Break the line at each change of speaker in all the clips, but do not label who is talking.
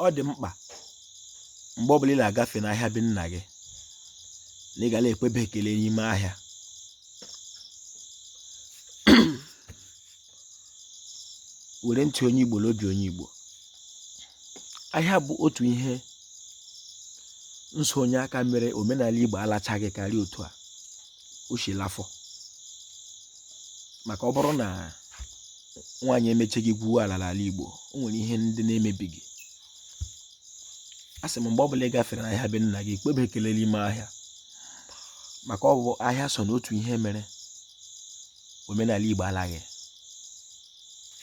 ọ dị mkpa mgbe ọbụla ị na-agafe n'ahịa be nna gị na ị ga na-ekwebe ekele n'ime ahịa were ntị onye Igbo n'obi onye Igbo ahịa bụ otu ihe nsonye aka mere omenala Igbo alachaghị karịa otu a o si lafọ maka ọ bụrụ na nwaanyị emecheghị gwuo ala n'ala Igbo o nwere ihe ndị na-emebighị a sị m mgbe ọbụla ị gafere n'ahịa be nna gị kpebe ekele n'ime ahịa maka ọ bụ ahịa so n'otu ihe mere omenala Igbo alaghị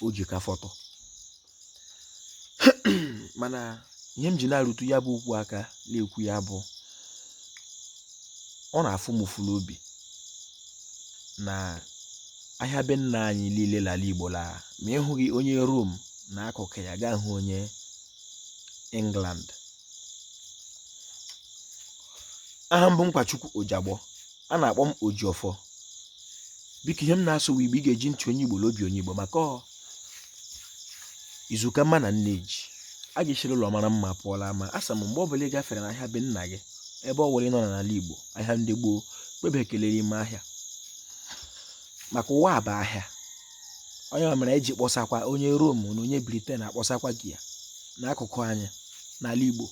o ji ka fọtụ mana ihe m ji na-arụtụ ya bụ okwu aka na-ekwu ya bụ ọ na-afụ m ụfụ n'obi na ahịa be nna anyị niile l'ala igbo la ma ị hụghị onye rom na akụkụ ya ga-ahụ onye england aha m bụ nkwachukwu ojagbo a na-akpọ m Ojiọfọ biko ihe m na-asụ Igbo ị ga-eji ntị onye Igbo n'obi onye Igbo maka izu ka mma na nne ji a ga-esiri ụlọ mara mma pụọ l'ama a sị m mgbe ọ bụla ị gafere n'ahịa be nna gị ebe ọ wụla ị nọ n'ala Igbo ahịa ndị gboo kpebe ekele n'ime ahịa maka ụwa bụ ahịa onye ma mere eji kpọsakwa onye Rom na onye Briten akpọsakwa gị ya n'akụkụ anyị n'ala Igbo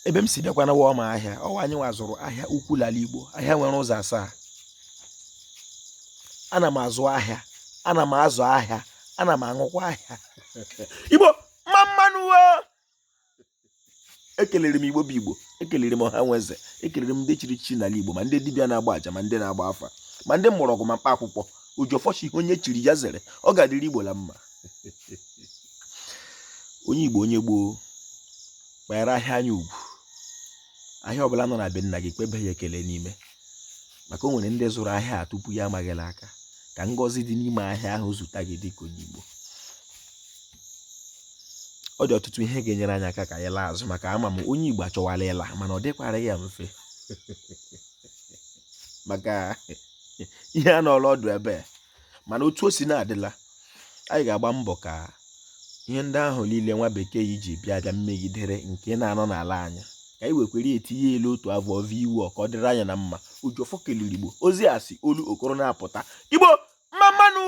ebe m si bịakwanụ wụ ọmaahịa ọ wụ anyị nwa zụrụ ahịa ukwu l'ala igbo ahịa nwere ụzọ asaa ana m azụ ahịa ana m azụ ahịa ana m ahụkwa ahịa igbo mma mma nụ ekelere m igbo bụ igbo ekelere m ọha nwe eze ekelere m ndị chiri echichi n'ala igbo ma ndị dibịa na-agba aja ma ndị na-agba afa ma ndị mgbọrọgwụ ma mkpa akwụkwọ ojiọfọ sị ihe onye chiri ya zere ọ ga-adịrị igbo la mma onye igbo onye gboo kwanyere ahịa anyị ugwu ahịa ọbụla nọ na be nna gị kpebe ya ekele n'ime maka o nwere ndị zụrụ ahịa a tupu ya ama gị l'aka ka ngọzi dị n'ime ahịa ahụ zute gị dịka onye igbo ọ dị ọtụtụ ihe ga-enyere anyị aka ka anyị laa azụ maka ama m onye igbo achọwala ịla mana ọ dịkwara ya mfe maka ihe anọọla ọdụ ebe mana otu o si na-adịla anyị ga-agba mbọ ka ihe ndị ahụ niile nwa bekee ji bịa abịa mmegidere nke na-anọ n'ala anyị ka anyị wekwere etinye l'otu avọ ọvọ iwu ọ ka ọ dịrị anyị na mma ojiọfọ kelere igbo ozi a si olokoro na-apụta igbo mma mma nụ